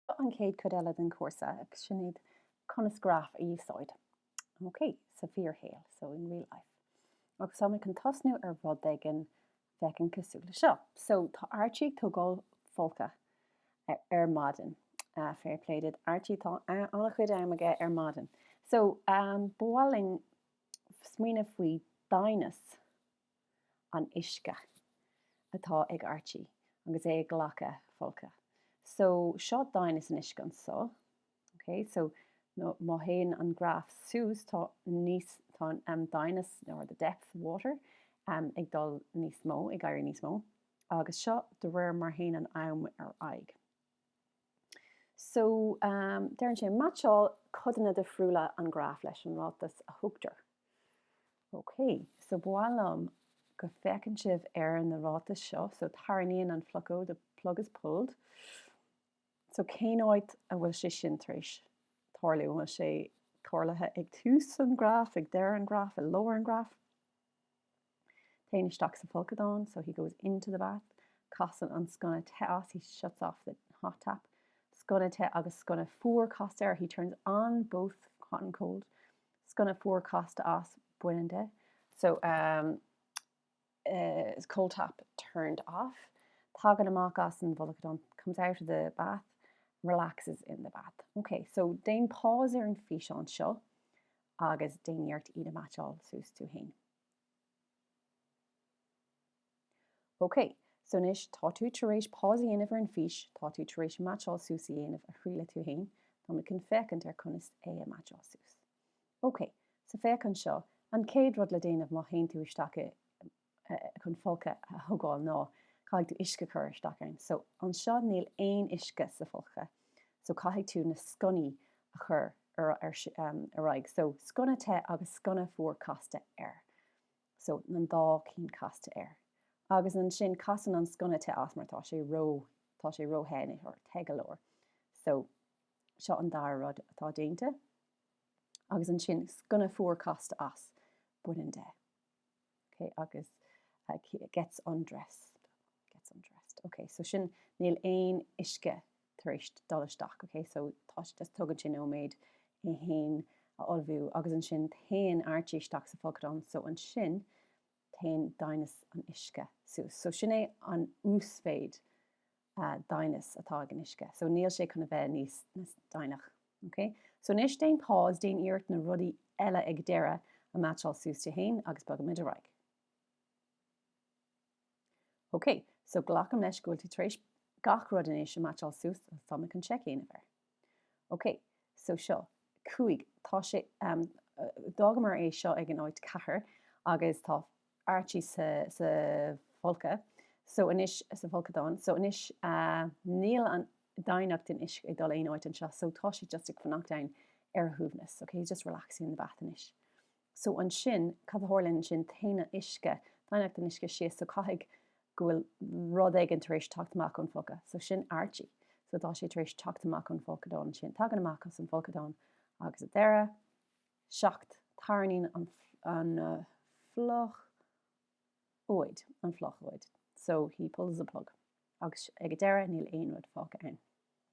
An chéad chuid eile den chúrsa, sin iad conas graif a úsáid, ok, sa bhfíorshaol, so in real life. Agus tá mé chun tosnú ar rud éigin a bhféachann cosúil le seo. So, tá Archie ag tógáil folctha ar maidin. Fair play duit Archie, tá an-chuid am aige ar maidin. So, ba mhaith linn smaoineamh faoi doimhneas. an uisce atá ag Archie agus é ag glacadh folctha. So seo doimhneas an uisce anso. Ok so nó má théann an graf suas tá níos tá an doimhneas or the depth of water ag dul níos mó, ag éirí níos mó. Agus seo de réir mar théann an am ar aghaidh. So, deireann sé, meaitseáil codanna difriúla an ghraf leis an ráiteas a thugtar. Ok, so ba mhaith liom go bhféachann sibh ar na ráitis seo, so tarraingíonn an phlocóid, the plug is pulled, so cén áit a bhfuil sé sin tar éis tarlú? An bhfuil sé tarlaithe ag tús an ghraf, ag deireadh an ghraf, i lár an ghraf? Téann isteach sa folcadán, so he goes into the bath. Casann an sconna te as, he shuts off the hot tap. Sconna te agus sconna fuar casta air, he turns on both hot and cold. Sconna fuar casta as, baineann de. So, um, uh, cold tap turned off. Tagann amach as an bhfolcadán, comes out of the bath, relaxes in the bath. Okay, so déan pause ar an físeán seo. agus déan iarracht iad a mheaitseáil suas tú fhéin. Ok, so anois tá tú tar éis pause a dhéanamh ar an fís, tá tú tar éis meaitseáil suas a dhéanamh a thriail tú fhéin, tá muid chun féachaint ar conas é a meaitseáil suas. Ok, so féach anseo, an chéad rud le déanamh má théann tú isteach i chun folctha a thógáil ná caithfidh tú uisce a chur isteach ann. So anseo níl aon uisce sa fholctha so caithfidh tú na sconnaí a chur ar ar aghaidh. So sconna te agus sconna fuar casta air. So na dá cinn casta air. Agus ansin casann an sconna te as mar tá sé ró tá sé ró the nó te go leor. So seo an dara rud atá déanta. Agus ansin sconna fuar casta as baineann de. ok agus gets undressed gets undressed ok so sin níl aon uisce tar éis dul isteach ok so tá sé tugann sé nóiméad é fhéin a ullmhú agus ansin téann Archie isteach sa bhfolcadán so ansin téann doimhneas an uisce suas so sin é an uasmhéid doimhneas atá ag an uisce so níl sé chun a bheith níos doimhne ok so anois déan pause déan iarracht na rudaí eile ag deireadh a meaitseáil suas tú fhéin agus bogfaimid ar aghaidh ok so glacaim leis go bhfuil tú tar éis gach rud anois a meaitseáil suas tá mé chun check a dhéanamh air. Ok, so seo, cúig, tá sé, ehm, d'fhágamar é seo ag an áit, ceathair, agus tá Archie sa, sa bhfolcadh, so anois, sa bhfolcadán, so anois, ah, níl an doimhneacht den uisce ag dul aon áit anseo, so tá sé just ag fanacht ann ar a shuaimhneas, ok, he's just relaxing in the bath anois. So ansin, cad a tharlaíonn ansin? Téann an uisce, doimhneacht an uisce síos. So caithfidh go bhfuil rud éigin tar éis teacht amach ón bhfolcadh. So sin Archie. So tá sé tar éis teacht amach ón bhfolcadán ansin. Tagann amach ón bhfolcadán agus sa deireadh, 7, tarraingíonn an phlocóid, an phlocóid. So he pulls the plug. Agus ag an deireadh, níl aon rud fágtha ann.